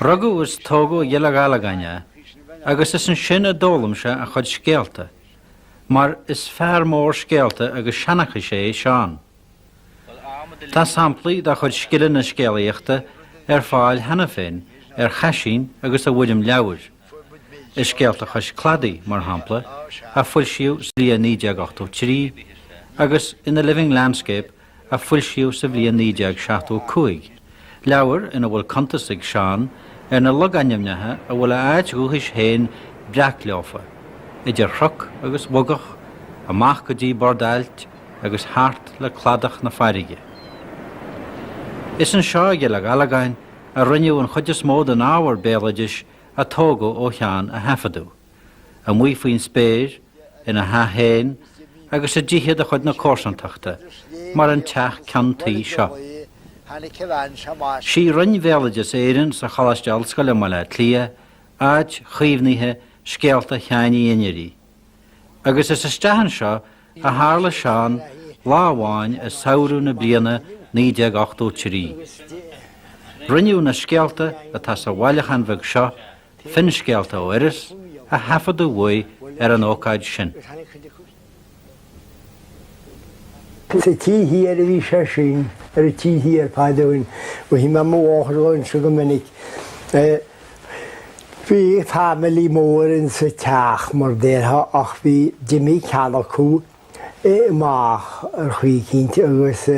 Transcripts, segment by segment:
Rugadh is tógadh i gCill Ghallagáin é agus is ansin a d'fhoghlaim sé a chuid scéalta, mar is fear mór scéalta agus seanchais é Seán. Tá samplaí dá chuid scileanna scéalaíochta ar fáil cheana féin ar chaisín agus i bhfoirm leabhair, i Scéalta Chois Cladaigh, mar shampla, a foilsíodh sa bhliain 1983, agus in The Living Landscape a foilsíodh sa bhliain 1975, leabhar ina bhfuil cuntas ag Seán ar na logainmneacha a bhfuil a áit dhúchais féin breac leofa, idir chnoc agus bhogach, amach go dtí bord ailt agus thart le cladach na farraige. Is anseo i gCill Ghallagáin a rinneadh an chuid is mó den ábhar béaloidis a tógadh ó Sheán a thaifeadadh. amuigh faoin spéir, ina theach féin agus i dtithe de chuid na comharsantachta, mar an teach ceann tuí seo. Sí Roinn Bhéaloideas Éireann sa Choláiste Ollscoile i mBaile Átha Cliath áit chaomhnaithe scéalta Sheáin Uí Einirí, agus is isteach anseo a tharla Seán lá amháin i samhradh na bliana 1983. Rinneadh na scéalta atá sa bhailiúchán bheag seo Finscéalta ó Iorras a thaifeadadh uaidh ar an ócáid sin. Sa taobh thiar a bhí sé sin, ar an taobh thiar fad ó shin. Mhothaigh mé mo mháthair á inseacht go minic. Bhí family mór in sa teach mar déarfá ach bhí d'imigh ceann acu, amach ar chaoi eicínt agus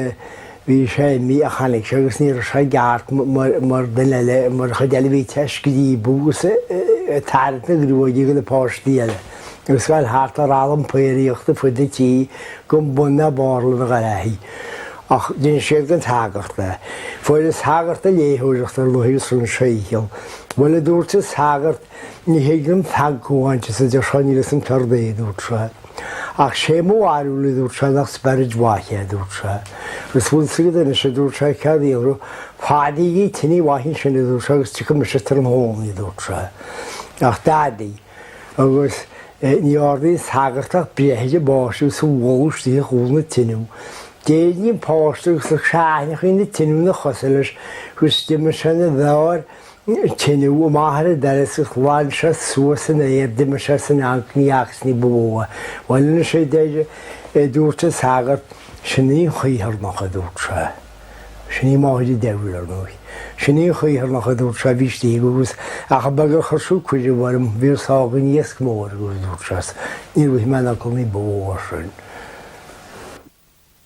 bhí sé imithe ach tháinig sé agus ní raibh sé i gceart mar duine eile, mar an chuid eile bhí sé ag scríobadh agus ag tarraingt na gruaige de na páistí eile agus ag gabháil thart a rá lom faoraíocht ar fud an tí go mbun na barla na ngarraithe. Ach d'inis siad don tsagart é. Bhuail an sagart ag léitheoireacht ar ndóigh agus rinne sé a dhícheall. Bhuel a dúirt an sagart ní thig liom feagcamháin de sa deir sé níl fhios a'm céard é a dúirt sé. Ach sé mo bharúil, a dúirt sé, nach spioraid mhaith é, a dúirt sé. Agus bhfuil fhios agat anois, a dúirt sé, céard a dhéanfas tú, fadaígí tine mhaith ansin, a dúirt sé, agus tiocfaidh mise tráthnóna, a dúirt sé. Ach d'fhadaigh, agus ní dhearna an sagart ach breith ar an bpáiste agus é a bhualadh isteach i gcúl na tineadh. D'éirigh an páiste agus aithinneachaí na tineadh ina chosa leis, agus d'imigh sé ina bheár, tineadh amach ar an doras agus ghlan sé suas san aer, d'imigh sé san eang ní fhacthas ní ba mhó é. Bhuel anois a deir, a dúirt an sagart, sin í an Chaorthannach, a dúirt sé. Sin í máthair an diabhail, ar ndóigh. Sin í an Chaorthannach, a dúirt sé, bhí istigh agus ach a bheag a chuir sí cuireadh orm, bhí a sá againn iasc mór agus dúirt sé, níor ith mé in am ní ba mhó as sin.